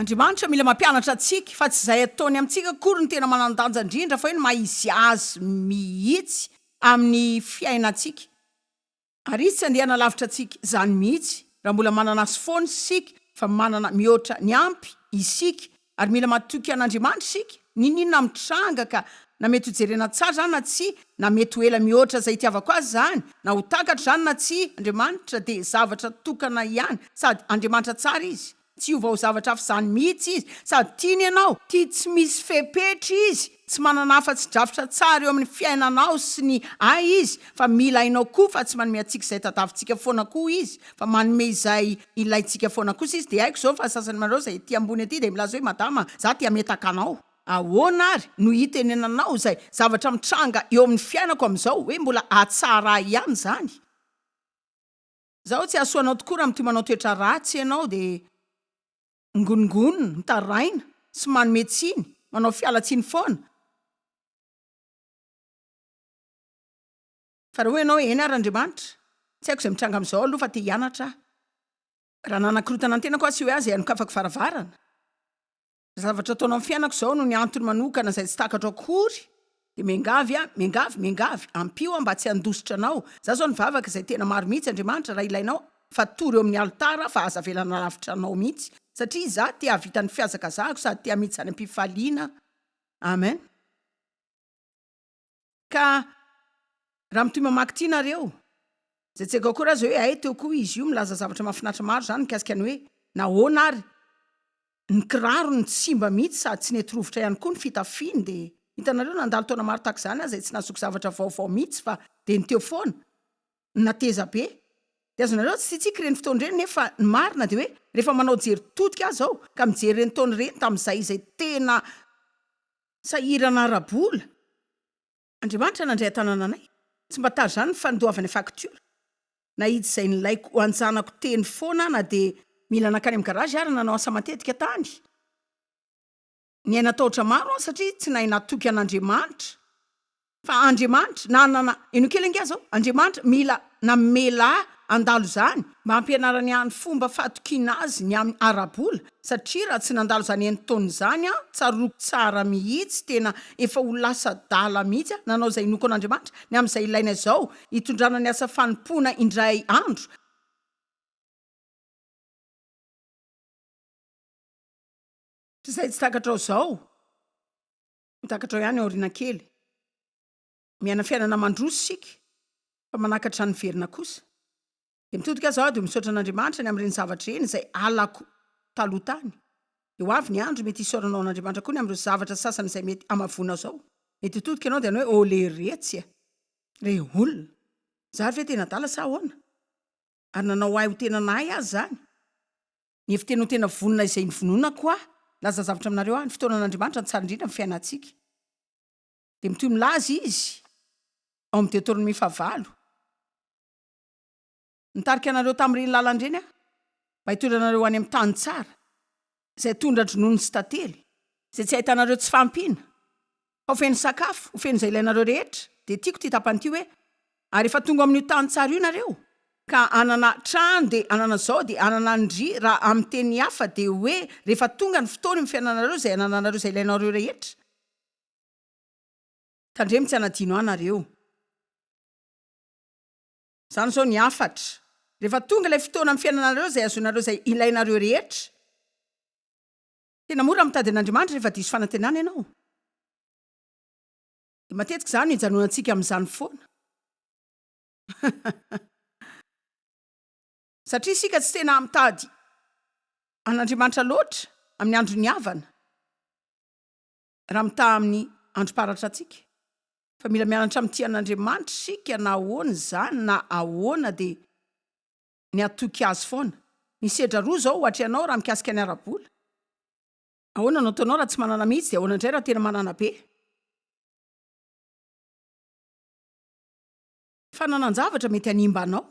Andriamanitra mila mampianatra antsika fa tsy izay ataony amintsika akory no tena manan-danja indrindra fa eo ny maha izy Azy mihitsy amin'ny fiainantsika. Ary izy tsy andiana lavitra antsika izany mihitsy, raha mbola manana Azy foana isika, fa manana mihoatra ny ampy isika, ary mila matoky an'Andriamanitra isika, n'inon'inona mitranga ka, na mety ho jerena tsara izany na tsia, na mety ho ela mihoatra izay itiavako azy izany, na ho takatro izany na tsia, Andriamanitra dia zavatra tokana ihany, sady Andriamanitra tsara Izy. Tsy ho vaozavatra afa izany mihitsy izy, sady tiany ianao, tia tsy misy fepetra izy, tsy manana afa-tsy drafitra tsara eo amin'ny fiainanao sy ny Ahy izy, fa mila hainao koa fa tsy manome antsika izay tadiavintsika foana koa izy, fa manome izay ilaintsika foana kosa izy, dia haiko izao fa ny sasany aminareo izay ety ambony ety dia milaza hoe madama za te hametaka anao, ahoana ary no hitenenanao izay zavatra mitranga eo amin'ny fiainako amin'izao, hoe mbola hahatsara ahy ihany izany? Zaho tsy hahasoa anao tokoa raha mitohy manao toetra ratsy ianao dia mingonongonona, mitaraina sy manome tsiny, manao fialantsiny foana. Fa raha hoy ianao hoe, Eny ary Andriamanitra, tsy haiko izay mitranga amin'izao aloha fa te hianatra aho. Raha nanakorontana ny tenako aho sy hoe ahy izay anokafako varavarana. Zavatra ataonao amin'ny fiainako izao no ny antony manokana izay tsy takatro akory, dia miangavy aho, miangavy, miangavy, ampio aho mba tsy handositra anao. Izaho izao nivavaka izay tena maro mihitsy, Andriamanitra, raha ilainao, fa tory eo amin'ny alitara aho fa aza avela nalavitra anao mihitsy, satria izaho te hahavita ny fihazakazahako sady te hamitsy any am-pifaliana. Amen. Ka raha mitohy mamaky ity nareo, zay tsy ego akory aza hoe hay teo koa izy io milaza zavatra mafinaritra maro zany mikasika ny hoe nahoana ary ny kirarony tsy simba mihitsy sady tsy nety rovitra ihany koa ny fitafiany de hitanareo nandalo taona maro tahaka izany aza de tsy nazoky zavatra vaovao mihitsy fa de ny teo foana no nateza be de azonareo tsy tsitsiky ireny fotoana ireny nefa ny marina de hoe rehefa manao jery todika aza aho ka mijery ireny taona ireny tamin'izay izay tena Sahirana ara-bola. Andriamanitra nandray an-tanana anay. Tsy mba tary izany ny fandoavana faktiora. Nahidy izay nilaiko ho an-janako teny foana aho na dia mila nankany amin'ny garazy ary nanao asa matetika tany. Niaina tahotra maro aho satria tsy nahay natoky an'Andriamanitra. Fa Andriamanitra, na na ino kely ange zao, Andriamanitra mila namela handalo izany mba hampianarany ahy ny fomba fahatokiana azy ny amin'ny ara-bola, satria raha tsy nandalo izany enin-taona izany aho, tsaroako tsara mihitsy, tena efa ho lasa adala mihitsy aho, nanao izay inoako an'Andriamanitra ny amin'izay ilaina izao hitondrana ny asa fanompoana indray andro. Izay tsy takatrao izao. Mitakatra ao ihany aoriana kely. Miaina fiainana mandroso isika, fa manakatra ny niverina kosa. Dia mitodika aza aho, dia misaotra an'Andriamanitra ny amin'ireny zavatra ireny izay halako taloha tany. Dia ho avy ny andro mety hisaoranao an'Andriamanitra koa ny amin'ireo zavatra sasany izay mety hamavoana zao. Mety hitodika ianao dia hanao hoe, Olé retsy e! Ilay olona! Zary ve tena adala sa ahoana? Ary nanao ahy ho tena nahay aza izany. Ny heviteny ho tena vonona izay nivononako aho hilaza zavatra aminareo aho, ny fotoanan'Andriamanitra no tsara indrindra amin'ny fiainantsika. Dia mitohy milaza izy ao amin'ny Deoteronomia fahavalo, Nitarika anareo tamin'ireny lalana ireny aho, mba hitondra anareo ho any amin'ny tany tsara, izay tondra-dronono sy tantely, izay tsy ahitanareo tsy fahampiana, Ao feno sakafo, ho feno izay ilainareo rehetra. Dia tiako ity tapany ity hoe, Ary efa tonga amin'io tany tsara io nareo, ka hanana trano, dia hanana izao, dia hanana an'ndry, raha amin'ny teny hafa dia hoe rehefa tonga ny fotoana eo amin'ny fiainanareo izay hanananareo izay ilainareo rehetra. Tandremo tsy hanadino ahy nareo. Izany izao ny hafatra. Rehefa tonga ilay fotoana amin'ny fiainanareo izay hahazoanareo izay ilainareo rehetra. Tena mora mitady an'Andriamanitra rehefa diso fanantenana ianao. Dia matetika izany no ijanonantsika amin'izany foana. Satria isika tsy tena mitady an'Andriamanitra loatra amin'ny andron'ny havana, raha mitaha amin'ny androm-paratra antsika. Fa mila mianatra mitia an'Andriamanitra isika na ahoana izany na ahoana dia ny hatoky azy foana. Ny sedra roa izao ohatra ianao raha mikasika ny ara-bola. Ahoana no ataonao raha tsy manana mihitsy dia ahoana indray raha tena manana be? Fananan-javatra mety hanimba anao.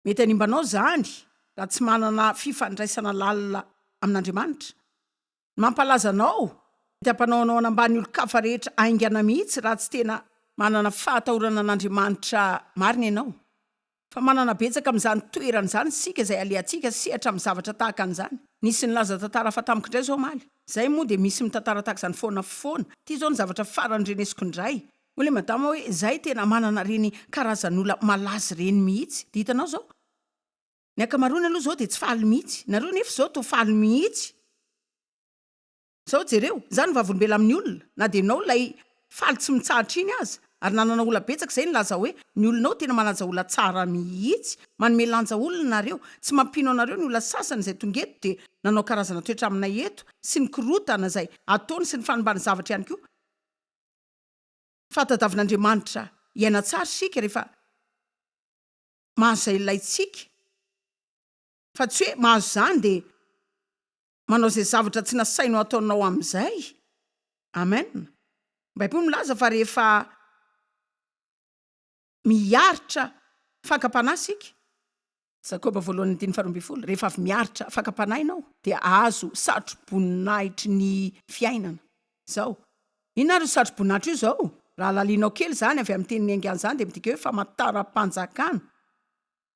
Mety hanimba anao izany raha tsy manana fifandraisana lalina amin'Andriamanitra. Mampalaza anao dia mpanao hanaoana ambany olon-kafa rehetra haingana mihitsy raha tsy tena manana fahatahorana an'Andriamanitra marina ianao. Fa manana betsaka amin'izany toerana izany isika izay alehantsika sehatra amin'ny zavatra tahaka an'izany. Nisy nilaza tantara hafa tamiko indray izao omaly. Izay moa dia misy mitantara tahaka izany foana foana. Ity izao ny zavatra farany renesiko indray. Hoy ilay madama hoe izahay tena manana ireny karazan'olona malaza ireny mihitsy. Dia hitanao izao. Ny ankamaroany aloha zao dia tsy faly mihitsy. Nareo nefa izao toa faly mihitsy. Sao jereo, za no vavolombela amin'ny olona, na dia ianao ilay faly tsy mitsahatra iny aza, ary nanana ola betsaka izay nilaza hoe ny olona ao tena manaja ola tsara mihitsy, manome lanja olona nareo, tsy mampino anareo ny ola sasany izay tonga eto dia nanao karazana toetra aminay eto, sy ny korotana izay ataony sy ny fanimbany zavatra ihany koa. Fa tadavin'Andriamanitra hiaina tsara isika rehefa. mahazo izay ilaintsika fa tsy hoe mahazo izany dia manao izay zavatra tsy nasainao ataonao amin'izay. Amen. Ny Baiboly milaza fa rehefa miaritra fakam-panahy isika, Jakoba voalohany andininy faharoa ambin'ny folo, rehefa avy miaritra fakam-panahy ianao dia ahazo satroboninahitry ny fiainana. Izao, Inona ary io satrobon'Atra io zao? Raha lalianao kely izany avy amin'ny tenin'i Enga izany dia midika hoe famataram-panjakana.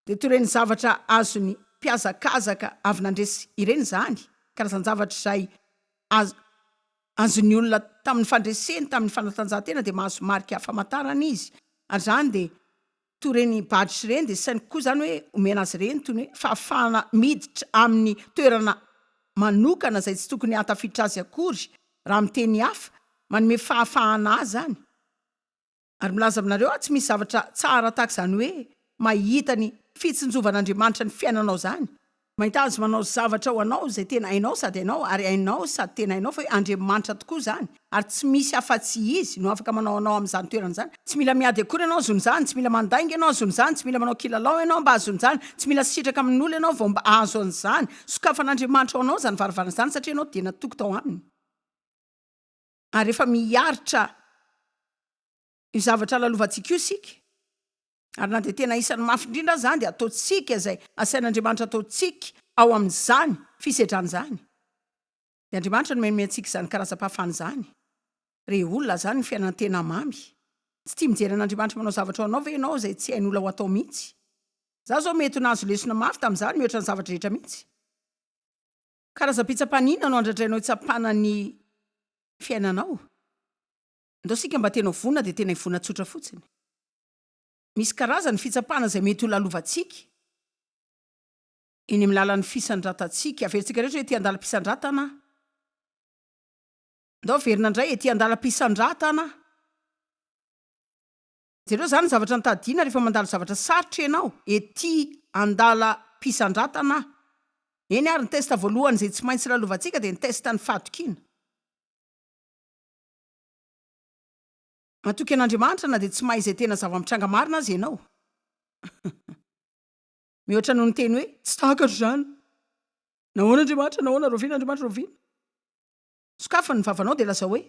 Dia toy ireny zavatra azon'ny mpihazakazaka avy nandresy ireny izany, karazan-javatra izay azo azon'ny olona tamin'ny fandreseny tamin'ny fanatanjahantena dia mahazo marika famantarana izy, ary izany dia toy ireny badges ireny dia saingy koa izany hoe omena azy ireny toy ny hoe fahafahana miditra amin'ny toerana manokana izay tsy tokony hahatafiditra azy akory raha amin'ny teny hafa, manome fahafahana azy izany ary milaza aminareo aho tsy misy zavatra tsara tahaka izany hoe mahita ny fitsinjovan'Andriamanitra ny fiainanao izany Mahita azy manao zavatra ho anao izay tena hainao sady hainao ary hainao sady tena hainao fa hoe Andriamanitra tokoa izany ary tsy misy afa-tsy Izy no afaka manao anao amin'izany toerana izany. Tsy mila miady akory ianao azon'izany, tsy mila mandainga ianao azon'izany, tsy mila manao kilalao ianao mba azon'izany, tsy mila sitraka amin'olo ianao vao mba ahazo an'izany. Sokafan'Andriamanitra ho anao izany varavarana izany satria ianao dia natoky tao Aminy ary efa miharitra. Io zavatra lalovantsika io isika, ary na dia tena isany mafy indrindra aza dia ataontsika izay asain'Andriamanitra ataontsika ao amin'izany fisedrana izany. Dia Andriamanitra no manome antsika izany karazam-pahafana izany. Re olona, izany no fiainan-tena mamy. Tsy tia mijery an'Andriamanitra manao zavatra ho anao ve ianao izay tsy hain'olona ho atao mihitsy? Izaho izao mety ho nahazo lesona mafy tamin'izany mihoatra ny zavatra rehetra mihitsy. Karazam-pitsapana inona no andradrainao hitsapana ny fiainanao? Ndao isika mba tena ivona dia tena ivona tsotra fotsiny. Misy karazany fitsapana izay mety ho lalovantsika eny amin'ny lalan'ny fisandratantsika. Averintsika rehetra hoe ety andalam-pisandratana aho. Ndao averina indray ety andalam-pisandratana aho. Jereo izany ny zavatra notadidiana rehefa mandalo zavatra sarotra ianao, ety andalam-pisandratana aho. Eny ary ny test voalohany izay tsy maintsy lalovantsika dia ny test ny fahatokiana. Matoky an'Andriamanitra na dia tsy mahay izay tena zava-mitranga marina aza ianao. Mihoatra noho ny teny hoe, Tsy takatro izany! Nahoana Andriamanitra? Nahoana? Rahoviana Andriamanitra? Rahoviana? Sokafy ny vavanao dia lazao hoe,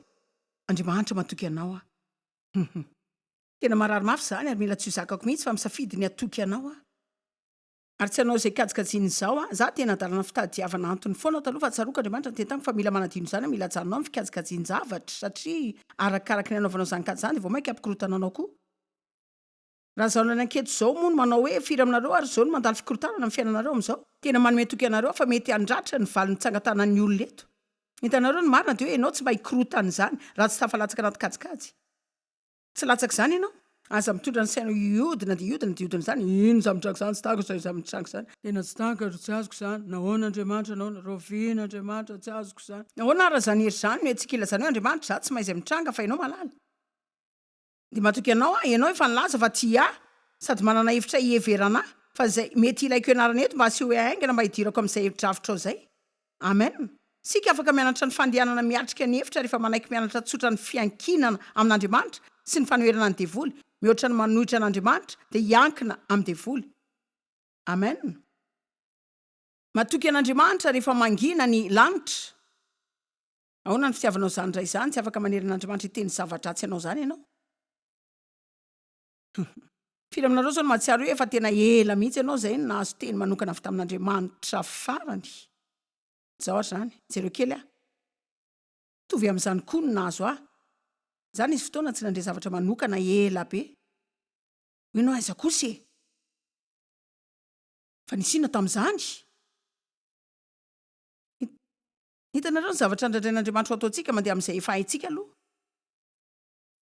Andriamanitra matoky anao aho. Tena marary mafy izany ary mila tsy ho zakako mihitsy fa misafidy ny hatoky anao aho. Ary tsy hanao izay kajikajiny izao aho. Izaho dia nadalana fitadiavana antony foana taloha fa tsaroako Andriamanitra niteny tamiko fa mila manadino izany aho, mila ajanonao ny fikajikajin-javatra satria arakaraky ny hanaovanao izany kajy izany dia vao mainka hampikorontana anao koa. Raha izao nalaina anketo izao moa no manao hoe firy aminareo ary izao no mandalo fikorontanana amin'ny fiainanareo amin'izao? Tena manome toky anareo aho fa mety handratra ny valin'ny tsangan-tanan'ny olona eto. Hitanareo ny marina dia hoe ianao tsy mba hikorontana izany raha tsy tafalatsaka anaty kajikajy. Tsy latsaka izany ianao. Aza mitondra ny sainao hiodina dia hiodina dia hiodina izany. Inona izany mitranga izany, tsy tahako izany izany mitranga izany. Tena tsy tahaka ary tsy azoko izany. Nahoana Andriamanitra, nahoana? Rahoviana Andriamanitra, tsy azoko izany. Nahoana ary raha izany hery izany no hetsika ilazanao hoe Andriamanitra, izaho tsy mahay izay mitranga fa ianao mahalala. Dia matoky anao aho, ianao efa nilaza fa tia ahy sady manana hevitra hiheverana ahy. Fa izay mety ilaiko ianarana eto mba asehoy ahy haingana mba hidirako amin'izay drafitrao izay. Amen! Isika afaka mianatra ny fandehanana miatrika ny efitra rehefa manaiky mianatra tsotra ny fiankinana amin'Andriamanitra sy ny fanoherana ny devoly, mihoatra ny manohitra an'Andriamanitra dia hiankina amin'ny devoly. Amen! Matoky an'Andriamanitra rehefa mangina ny lanitra. Ahoana ny fitiavanao izany indray izany? Tsy afaka manery an'Andriamanitra hiteny zava-dratsy anao izany ianao. Firy aminareo izao no mahatsiaro hoe efa tena ela mihitsy ianao izay no nahazo teny manokana avy tamin'Andriamanitra farany? Izao ary izany, jereo kely aho. Mitovy amin'izany koa no nahazo ahy. Izaho nisy fotoana tsy nandre zavatra manokana ela be. Hoy ianao, aiza kosa e? Fa nisy inona tamin'izany? Hitanareo, ny zavatra nandrandrain'Andriamanitra ho ataontsika mandeha amin'izay efa haintsika aloha.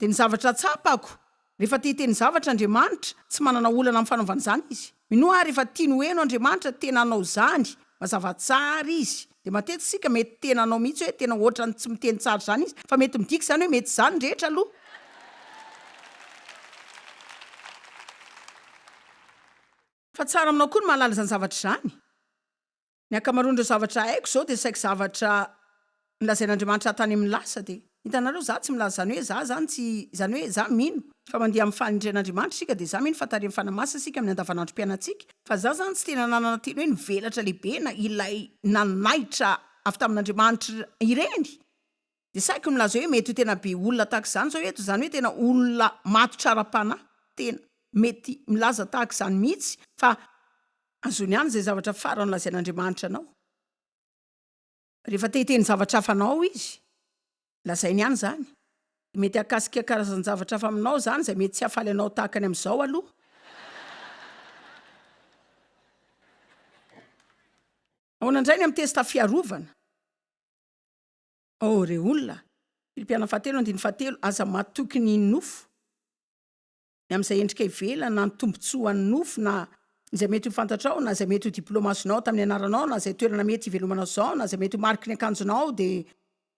Dia ny zavatra tsapako, rehefa te hiteny zavatra Andriamanitra, tsy manana olana amin'ny fanaovana izany Izy. Minoa aho rehefa tiany ho heno Andriamanitra tena hanao izany, mazava tsara Izy. Dia matetika isika mety tena hanao mihitsy hoe tena ohatran'ny tsy miteny tsara izany Izy, fa mety midika izany hoe mety izany ny rehetra aloha. Fa tsara aminao koa ny mahalala izany zavatra izany. Ny ankamaroan'ireo zavatra haiko izao dia saiky zavatra nolazain'Andriamanitra tany amin'ny lasa dia. Hitanareo, izaho tsy milaza izany hoe izaho izany tsy, izany hoe izaho mino fa mandeha amin'ny fahendren'Andriamanitra isika dia izaho mino fa tarihin'ny Fanahy Masina isika amin'ny andavanandrom-piainantsika, fa izaho izany tsy tena nanana teny hoe nivelatra lehibe na ilay nanaitra avy tamin'Andriamanitra ireny. Dia saiko milaza hoe mety ho tena be olona tahaka izany izao eto, izany hoe tena olona matotra ara-panahy, tena mety milaza tahaka izany mihitsy fa azony ihany izay zavatra farany lazain'Andriamanitra anao. Rehefa te hiteny zavatra hafa anao ao izy, lazainy ihany izany. Mety hahakasika karazan-javatra hafa aminao izany izay mety tsy hahafaly anao tahaka ny amin'izao aloha. Ahoana indray ny amin'ny testa fiarovana? Oh re olona! Filipiana fahatelo andininy fahatelo, Aza matoky ny nofo, ny amin'izay endrika ivelany, na ny tombontsoa an'ny nofo, na izay mety ho fantatrao, na izay mety ho diploma azonao tamin'ny anaranao, na izay toerana mety hivelomanao izao, na izay mety ho mariky ny akanjonao, dia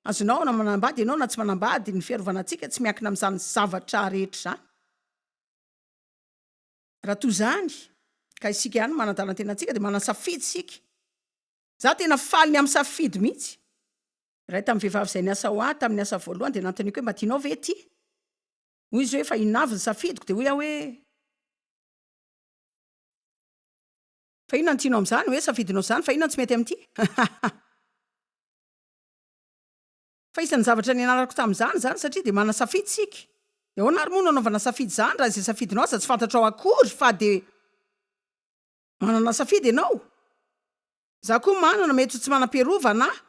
azonao na manambady ianao na tsy manambady, ny fiarovana antsika tsy miankina amin'izany zavatra rehetra izany. Raha toa izany ka isika ihany no manadala ny tenantsika, dia manana safidy isika, Za tena faly ny am safidy mihitsy. Iray tam vehivavy zay niasa ho ahy tamin'ny asa voalohany dia nanontaniako hoe mba tianao ve ity? Hoy izy hoe efa inona avy ny safidiko dia hoy aho hoe fa inona no tianao amin'izany hoe safidinao izany fa inona no tsy mety amin'ity? fa isan'ny zavatra nianarako tamin'izany izany satria dia manana safidy isika. Dia ahoana ary moa no anaovana safidy izany raha izay safidinao aza tsy fantatrao akory fa dia Manana safidy ianao? Za koa manana, mety ho tsy manam-piarovana aho.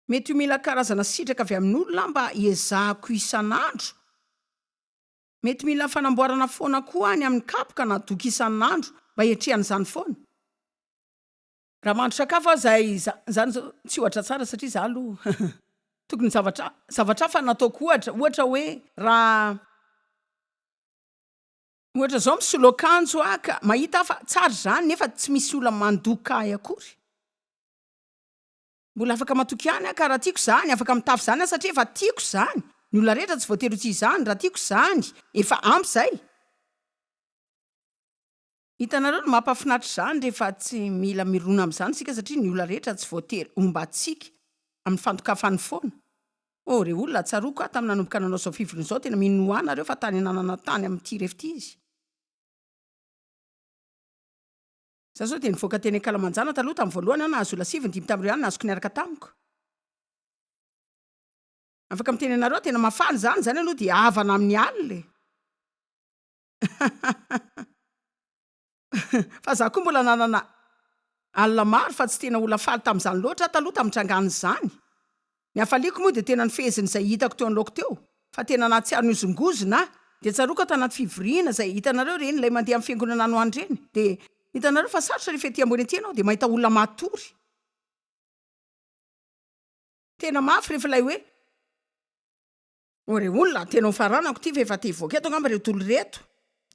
Mety ho mila karazana sitraka avy amin'olona aho mba hiezahako isan'andro. Mety mila fanamboarana foana koa aho ny amin'ny kapoka na doka isan'andro mba hiatrehana izany foana. Raha mahandro sakafo aho izay, izany izao tsy ohatra tsara satria za aloha tokony zavatra zavatra hafa no ataoko ohatra, ohatra hoe raha. Ohatra zao misolo akanjo aho ka mahita aho fa tsara izany nefa tsy misy olona mandoka ahy akory. Mbola afaka matoky ihany aho ka raha tiako izany, afaka mitafy izany aho satria efa tiako izany. Ny olona rehetra tsy voatery ho tia izany, raha tiako izany efa ampy izay. Hitanareo ny mampahafinaritra izany rehefa tsy mila mirona amin'izany isika satria ny olona rehetra tsy voatery homba antsika amin'ny fandokafan'ny foana. Oh re olona tsaroako aho tamin'ny nanomboka nanao izao fivoriana izao tena minoà nareo fa tany ananana tany amin'ny ity refit izy. Za zao dia nivoaka teny ankalamanjana taloha tamin'ny voalohany aho nahazo olona sivy ny dimy tamin'ireo ihany nazoko niaraka tamiko. Afaka miteny anareo aho tena mahafaly izany izany aloha dia havana amin'ny alina e. Fa za koa mbola nanana alina maro fa tsy tena ola faly tamzany loatra aho taloha tamitrangan zany. Ny hafaliako moa dia tena ny fehezin zay hitako teo anloako teo fa tena nahatsiaro nihozongozona aho dia tsaroako aho tanaty fivoriana zay hitanareo reny ilay mandeha am fiangonana any ho any reny dia hitanareo fa sarotra refa ety ambony ety ianao dia mahita olona matory tena mafy refa ilay hoe Ô re olona, tena ho faranako ity fa efa te hivoaka eto angamba ireto olona ireto.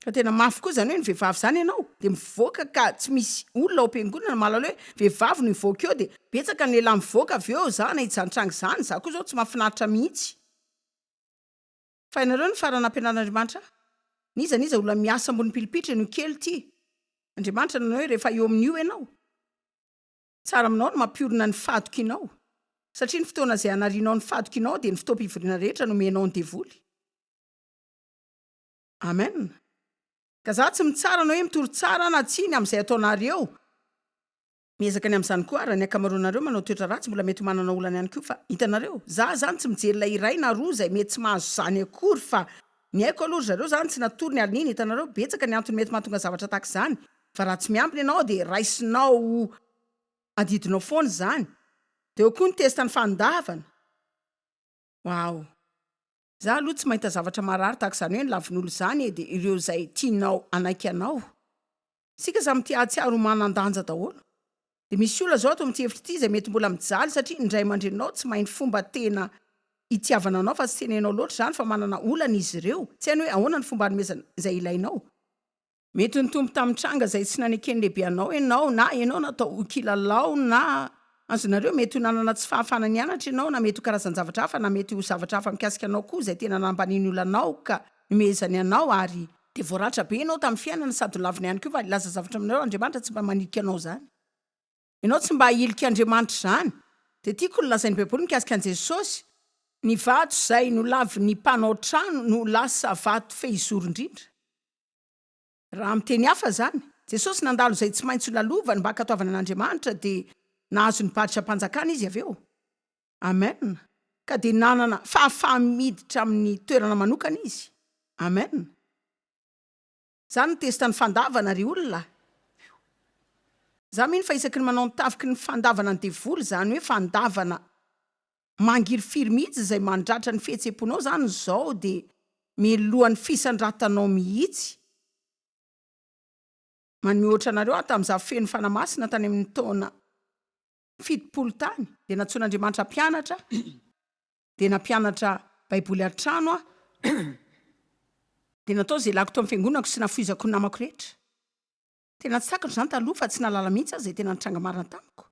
Ka tena mafy koa izany hoe ny vehivavy izany ianao dia mivoaka ka tsy misy olona ao am-piangonana mahalala hoe vehivavy no hivoaka eo dia betsaka ny lehilahy mivoaka avy eo za na hijantranga izany za koa izao tsy mahafinaritra mihitsy fa ianareo no farany nampianarin'Andriamanitra ahy. N'iza n'iza olona miasa ambony pilipitra eny ho kely ity Andriamanitra nanao hoe rehefa eo amin'io ianao. Tsara aminao ny mampiorina ny fahatokianao, satria ny fotoana izay hanarianao ny fahatokianao dia ny fotoam-pivoriana rehetra nomenao ny devoly. Amen. Ka za tsy mitsara na hoe mitory tsara na tsia ny amin'izay ataonareo. Miezaka ny amin'izany koa ary ny ankamaroanareo manao toetra ratsy mbola mety ho manana olana ihany koa fa hitanareo, za zany tsy mijery ilay iray na roa izay mety tsy mahazo izany akory fa Ny haiko aloha ry zareo zany tsy natory ny alininy, hitanareo betsaka ny antony mety mahatonga zavatra tahaka izany fa raha tsy miambina ianao dia raisinao adidinao foana izany, dia eo koa ny test ny fanondavana, waouh. Za aloha tsy mahita zavatra marary tahaka izany hoe ny lavin'olo izany e, dia ireo izay tianao hanaiky anao. Isika samy tia hahatsiaro ho manan-danja daholo. Dia misy olona izao ato amin'ity efitra ity izay mety mbola mijaly satria ny ray aman-dreninao tsy mahay ny fomba tena itiavana anao fa tsy tena hainao loatra izany fa manana olana izy ireo, tsy hainy hoe ahoana ny fomba hanomezana izay ilainao. Mety nitombo tamin'ny tranga izay tsy naneken'ny lehibe anao ianao na ianao natao ho kilalao na azonareo, mety ho nanana tsy fahafahana nianatra ianao na mety ho karazan-javatra hafa na mety ho zavatra hafa mikasika anao koa izay tena nambanian'ny olanao ka Nomehezany anao ary dia voaratra be ianao tamin'ny fiainana sady nolaviny ihany koa fa hilaza zavatra aminareo Andriamanitra tsy mba manilika anao izany. Ianao tsy mba ahilika Andriamanitra izany. Dia tiako ny lazain'ny Baiboly mikasika an'i Jesosy. Ny vato izay nolavin'ny mpanao trano no lasa vato fehizoro indrindra. Raha amin'ny teny hafa izany, Jesosy nandalo izay tsy maintsy ho lalovany mba hankatoavana an'Andriamanitra dia nahazo ny badram-panjakana izy avy eo. Amen, ka dia nanana fahafaham miditra amin'ny toerana manokana izy. Amen. Za no testa ny fandavana ry olona a! Za mino fa isaky ny manao ny tafiky ny fandavana ny devoly, zany hoe fandavana mangirifiry mihitsy izay mandratra ny fihetsem-ponao zany izao dia meloha ny fisandratanao mihitsy. Manome ohatra anareo aho tamin'ny za feno fanahy masina tany amin'ny taona fitopolo tany dia nantsoin'Andriamanitra mpianatra dia nampianatra baiboly an-trano aho dia natao izay lakiko tao amin'ny fiangonako sy nafoizako ny namako rehetra tena tsakatra izany taloha fa tsy nahalala mihitsy aho izay tena nitranga marina tamiko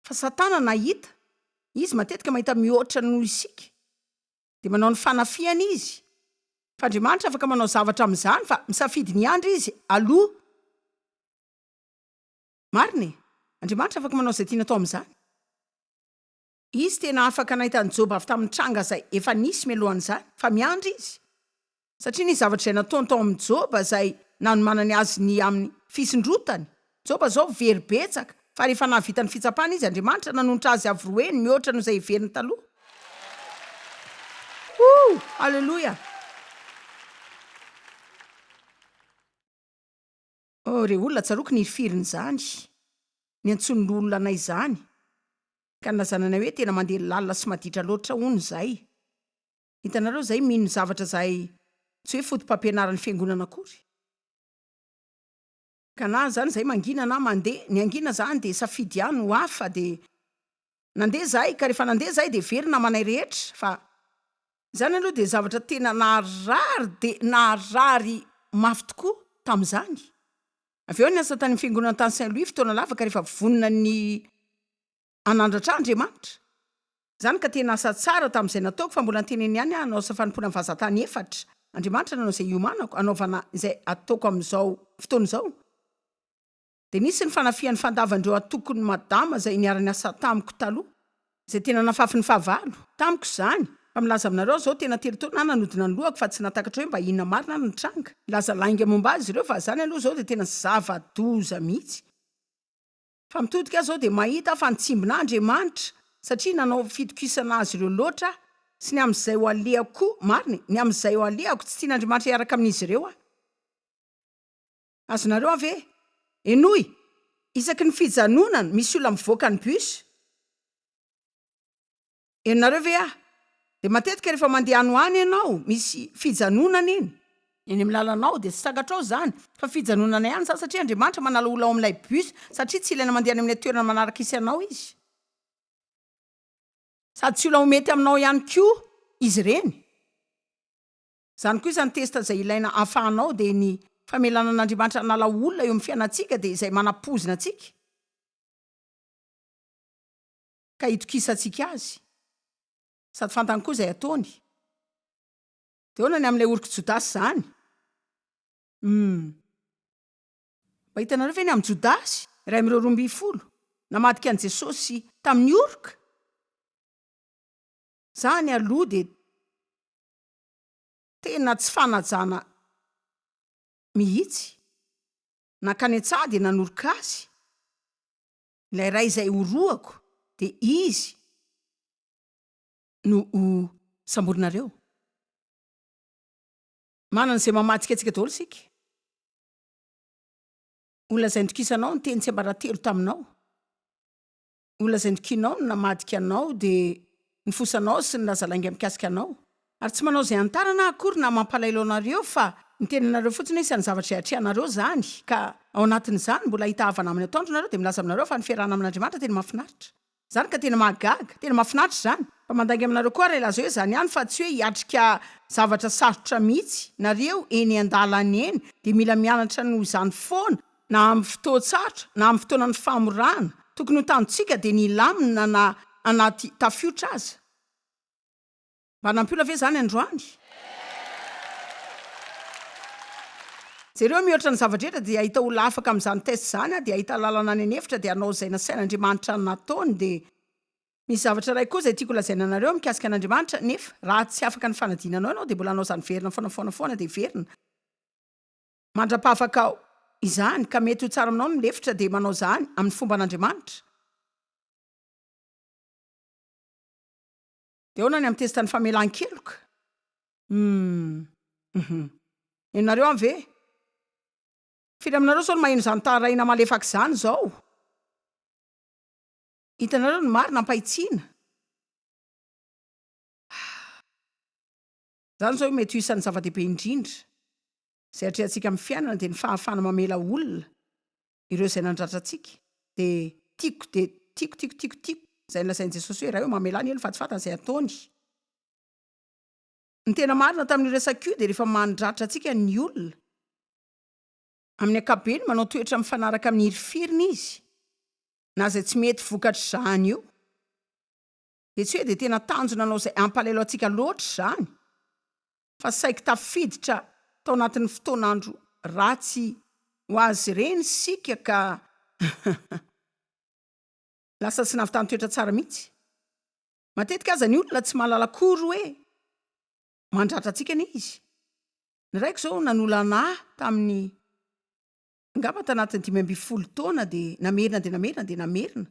fa satana nahita izy matetika mahita mihoatra noho isika dia manao ny fanafihana izy fa Andriamanitra afaka manao zavatra amin'izany fa misafidy ny andry izy aloha Marina e! Andriamanitra afaka manao izay tiany atao amin'izany. Izy tena afaka nahita an'i Joba avy tamin'ny tranga izay efa nisy mialohan'izany, fa miandry Izy. Satria nisy zavatra izay nataony tao amin'i Joba izay nanomanany azy ny amin'ny fisondrotany. Joba izao very betsaka, fa rehefa nahavita ny fitsapany izy, Andriamanitra nanonitra azy avo roe ny mihoatra noho izay heveriny taloha. Woo! Haleloia! Oh re olona tsaroako ny firin'izany niantsoan'ny loholona anay izany ka nilazana anay hoe tena mandeha lalina sy maditra loatra hono izay. Hitanareo izay mino zavatra izay tsy hoe fotopampianaran'ny fiangonana akory. Ka na izany izay mangina na mandeha, ny hangina izany dia safidy ihany ho hafa dia Nandeha izahay ka rehefa nandeha izahay dia very ny namanay rehetra fa izany aloha dia zavatra tena naharary dia naharary mafy tokoa tamin'izany. Avy eo niasa tany amin'ny fiangonana tany Saint Louis fotoana lava ka rehefa vonona ny hanandratra ahy Andriamanitra. Izany ka tena asa tsara tamin'izay nataoko fa mbola niteny eny ihany aho hanao asa fanompoana amin'ny vazan-tany efatra. Andriamanitra nanao izay hiomanako hanaovana izay ataoko amin'izao fotoana izao. Dia nisy ny fanafihan'ny fandavan'ireo antokon'i Madama izay niara-niasa tamiko taloha, izay tena nafafin'ny fahavalo, tamiko izany, fa milaza aminareo aho izao tena telo taona aho nanodina ny lohako fa tsy nahatakatra hoe mba inona marina no nitranga, nilaza lainga momba azy ireo fa izany aloha izao dia tena zava-doza mihitsy. Fa mitodika aho izao dia mahita aho fa nitsimbina ahy Andriamanitra satria nanao fitokisana azy ireo loatra aho sy ny amin'izay ho alehako koa, marina e, ny amin'izay ho alehako, tsy tian'Andriamanitra hiaraka amin'izy ireo aho. Azonareo ave? Henoy! Isaky ny fijanonana misy olona mivoaka ny bus. Henonareo ve aho? Dia matetika rehefa mandeha any ho any ianao misy fijanonana eny. Eny amin'ny lalanao dia tsy sakatrao izany fa fijanonana ihany izany satria Andriamanitra manala olona ao amin'ilay bus satria tsy ilaina mandeha any amin'ilay toerana manaraka hisy anao izy. Sady tsy olona ho mety aminao ihany koa izy ireny. Izany koa izany test izay ilaina hahafahanao dia ny famelana an'Andriamanitra hanala olona eo amin'ny fiainantsika dia izay manapoizina antsika ka hitokisantsika azy sady fantany koa izay ataony dia ahoana ny amin'ilay orok'i Jodasy izany? Humm mba hitanareo ve ny amin'i Jodasy iray amin'ireo roa ambin'ny folo namadika an'i Jesosy tamin'ny oroka? Za ny aloha dia Tena tsy fanajana mihitsy. Nankany an-tsaha dia nanoroka azy ilay iray izay ho rohako dia izy no ho samborinareo. Manana izay mamadikadika daholo isika. Olona izay nitokisanao niteny tsiambaratelo taminao. Ho lazain'i Kinao ny namadika anao, dia ny fosanao sy ny lazalainga mikasika anao. Ary tsy manao izay hanitarana aho akory na mampalaelo anareo, fa miteny aminareo fotsiny hoe isan'ny zavatra izay atrehanareo izany, ka ao anatin'izany mbola hahita havana amin'ny atoandro nareo, dia milaza aminareo fa ny fiarahana amin'Andriamanitra tena mahafinaritra. Izany ka tena mahagaga, tena mahafinaritra izany. Fa mandainga aminareo koa aho raha hilaza hoe izany ihany, fa tsy hoe hiatrika zavatra sarotra mihitsy. Nareo eny an-dalana eny dia mila mianatra noho izany foana, na amin'ny fotoan-tsarotra, na amin'ny fotoanan'ny famorana, tokony ho tanjontsika dia ny hilamina na anaty tafiotra aza. Mba nampiona ve izany androany? Jereo, mihoatra ny zava-drehetra dia hahita olona afaka amin'izany test izany aho, dia hahita lalana any an'efitra, dia hanao izay nasain'Andriamanitra nataony, dia. Misy zavatra iray koa izay tiako lazaina anareo mikasika an'Andriamanitra, nefa, raha tsy afaka ny fanadinanao ianao, dia mbola hanao izany verina foana, foana, foana, dia verina. Mandra-pahafakao izany ka mety ho tsara aminao ny milefitra dia manao izany amin'ny fomban'Andriamanitra. Dia ahoana ny amin'ny testan'ny famelan-keloka? Humm. Uhum. Ianareo any ve? Firy aminareo izao no maheno izany taharahina malefaka izany izao? Hitanareo ny marina am-pahitsiana? Ah. Izany izao mety ho isan'ny zava-dehibe indrindra izay atrehantsika amin'ny fiainana dia ny fahafahana mamela olona ireo izay nandratra antsika dia tiako dia tiako tiako tiako tiako izay nolazain'i Jesosy hoe Ray ô mamelà ny olona fa tsy fantany izay ataony. Ny tena marina tamin'io resaka io dia rehefa mandratra antsika ny olona, amin'ny ankapobeny manao toetra mifanaraka amin'ny hirifiriny izy na izay tsy mety vokatr'izany io. dia tsy hoe dia tena tanjona hanao izay hampalahelo antsika loatra izany, fa saiky tafiditra tao anatin'ny fotoan'andro ratsy ho azy ireny isika ka lasa tsy nahavitany toetra tsara mihitsy. Matetika aza ny olona tsy mahalala akory hoe mandratra antsika anie izy. Ny raiko izao nanolana ahy tamin'ny angamba tanatin'ny dimy ambin'ny folo taona dia namerina dia namerina dia namerina.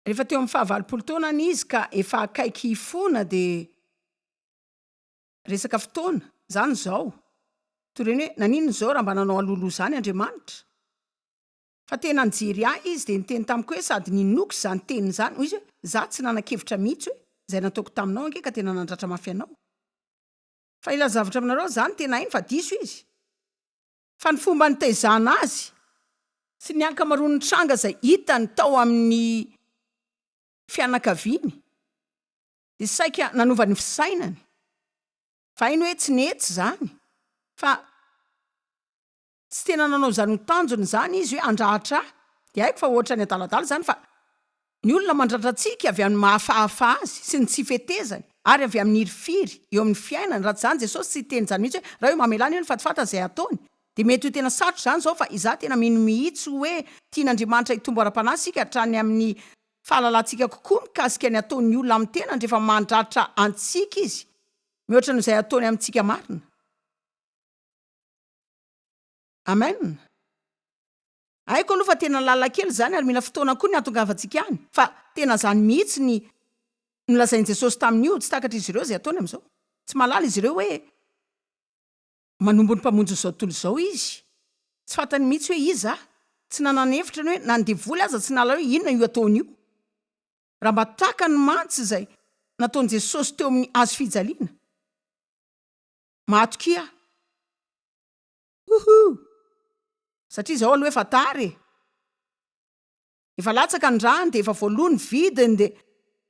Rehefa teo amin'ny fahavalopolo taonany izy ka efa akaiky hifona dia resaka fotoana izany izao. Torin'ny hoe, naninona izao raha mba nanao alohaloha izany Andriamanitra? Fa tena nijery ahy izy dia niteny tamiko hoe sady ninoako izany teniny izany, hoy izy hoe, izaho tsy nanan-kevitra mihitsy hoe, izay nataoko taminao ange ka tena nandratra mafy anao. Fa ilay zavatra aminareo izany tena hainy fa diso izy. Fa ny fomba nitaizana azy sy ny ankamaroan'ny tranga izay hitany tao amin'ny fianakaviany dia saika nanova ny fisainany fa hainy hoe tsy nety izany fa tsy tena nanao izany ho tanjony izany izy hoe handratra ahy dia haiko fa ohatrany adaladala izany fa Ny olona mandrandratsiaka avy amin'ny mahafahafa azy sy ny tsy fetezany ary avy amin'ny hirifiry eo amin'ny fiainany, raha tsy izany Jesosy tsy hiteny izany mihitsy hoe, raha io mamelà ny olona fa tsy fantany izay hataony. Dia mety ho tena sarotra izany izao fa izaho tena mino mihitsy hoe tian'Andriamanitra hitombo ara-panahy isika hatrany amin'ny fahalalantsika kokoa mikasika ny ataon'ny olona amin'ny tenany rehefa mandratra antsika izy mihoatra noho izay ataony amintsika marina. Amen! Haiko aloha fa tena lalan-kely izany ary mila fotoana koa ny hahatongavantsika any. Fa tena izany mihitsy ny nolazain'i Jesosy tamin'io, tsy takatr'izy ireo izay ataony amin'izao. Tsy mahalala izy ireo hoe manombo ny Mpamonjin'izao tontolo izao Izy. Tsy fantany mihitsy hoe iza aho. Tsy nanana hevitra ny hoe na ny devoly aza tsy nahalala hoe inona io ataony io. Raha mba takany mantsy izay nataon'i Jesosy teo amin'ny hazofijaliana! Mahatokia aho. Huhuu! Satria zao aloha efa tara e! Efa latsaka ny rano dia efa voaloa ny vidiny dia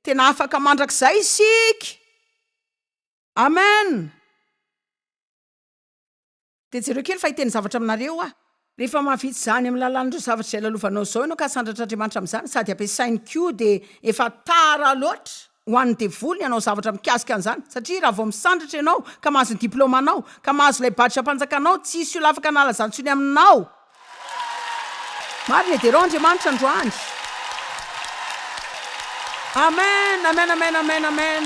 tena afaka mandrakizay isika! Amen! Dia jereo kely fa hiteny zavatra aminareo aho. Rehefa mahavita izany amin'ny lalan'ireo zavatra izay lalovanao izao ianao ka sandratr'Andriamanitra amin'izany sady ampiasainy koa dia efa tara loatra! Ho an'ny devoly ny hanao zavatra mikasika an'izany, satria raha vao misandratra ianao ka mahazo ny diplaomanao, ka mahazo ilay badram-panjakanao, tsy hisy olona afaka hanala izany intsony aminao. Marina e, Derao Andriamanitra androany. Amen, amen, amen, amen, amen.